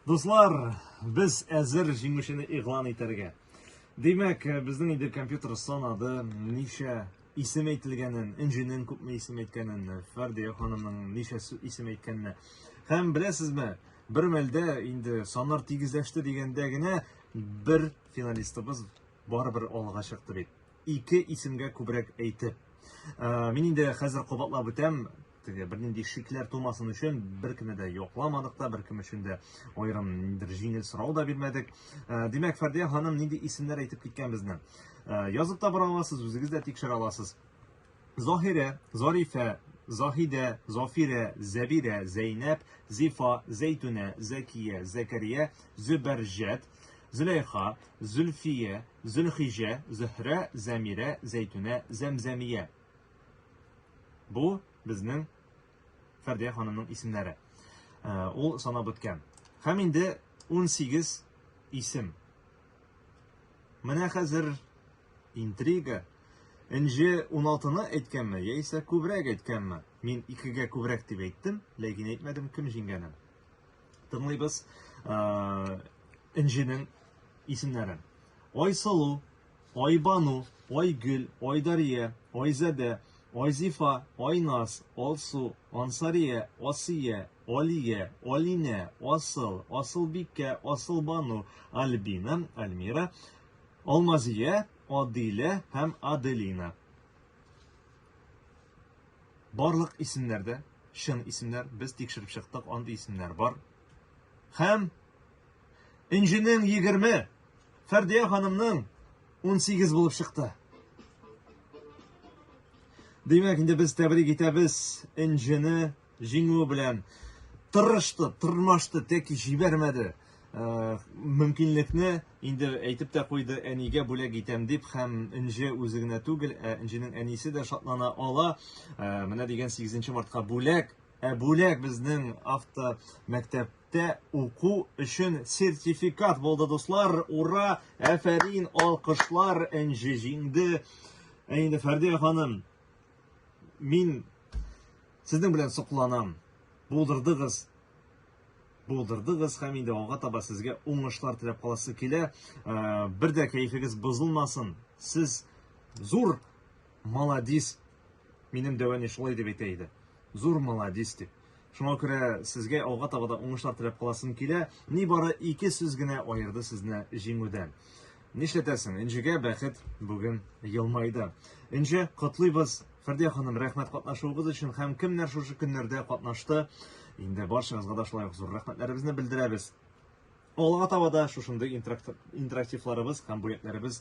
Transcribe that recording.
Дуслар, без әзер җиңүчене игълан итәргә. Димәк, безнең инде компьютер санады, ничә исем әйтелгәнен, инженен күпме исем әйткәнен, Фәрдия ханымның ничә исем әйткәнен. Һәм беләсезме, бер мәлдә инде саннар тигезләште дигәндә генә бер финалистыбыз Барыбер алга чыкты бит. Ике исемгә күбрәк әйтеп. Ә, мин инде хәзер кабатлап үтәм, теге бернинди шикләр тумасын өчен беркемне дә йокламадык та, беркем өчен дә аерым ниндидер җиңел сорау да бирмәдек. Ә, димәк, Фәрдия ханым нинди исемнәр әйтеп киткән безне? Ә, язып та бара аласыз, үзегез дә тикшерә аласыз. Заһирә, Зарифә, Заһидә, Зафирә, Зәбирә, Зәйнәп, Зифа, Зәйтүнә, Зәкия, Зәкәрия, Зөбәрҗәт, Зөләйха, Зөлфия, Зөлхиҗә, Зөһрә, Зәмирә, Зәйтүнә, Зәмзәмия. Бу безнең Фәрдия ханымның исемнәре. Э, ул санап үткән. Һәм инде 18 исем. Менә хәзер интрига, Энҗе уналтыны әйткәнме, яисә күбрәк әйткәнме? Мин икегә күбрәк дип әйттем, ләкин әйтмәдем кем җиңгәнен. Тыңлыйбыз Энҗенең исемнәрен. Айсылу, Айбану, Айгөл, Айдария, Айзәдә, Айзифа, Айназ, Алсу, Ансария, Асия, Алия, Алинә, Асыл, Асылбикә, Асылбану, Альбина, Альмира, Алмазия, Адилә һәм Аделина. Барлык исемнәр дә чын исемнәр. Без тикшереп чыктык, андый исемнәр бар. Һәм Энҗенең 20, Фәрдия ханымның 18 булып чыкты. Димәк, инде без тәбрик итәбез Энҗене Җиңүе белән тырышты, тырмашты, тәки җибәрмәде. Э, мөмкинлекне инде әйтеп тә куйды, әнигә бүләк итәм дип, һәм Энҗе үзе генә түгел, ә Энҗенең әнисе дә шатлана ала. Э, менә дигән 8 мартка бүләк, ә бүләк безнең авто мәктәп мәктәптә уку өчен сертификат булды, дуслар. Ура! Әфәрин, алкышлар, Энҗе җиңде. Ә инде Фәрдия ханым, Мин сезнең белән сокланам. Булдырдыгыз. Булдырдыгыз һәм инде алга таба сезгә уңышлар теләп каласы килә. Э, бер дә кәефегез бозылмасын. Сез зур молодец. Минем дәвәни шулай дип әйтә иде. Зур молодец дип. Шуңа күрә сезгә алга таба да уңышлар теләп каласым килә. Нибары ике сүз генә аерды сезне җиңүдән. Нишләтәсең, Энҗегә бәхет бүген елмайды. Энҗе, котлыйбыз! Фәрдия ханым, рәхмәт катнашуыгыз өчен һәм кемнәр шушы көннәрдә катнашты. Инде барчагызга да шулай ук зур рәхмәтләребезне белдерәбез. Алга таба да шушындый интерактивларыбыз һәм бүләкләребез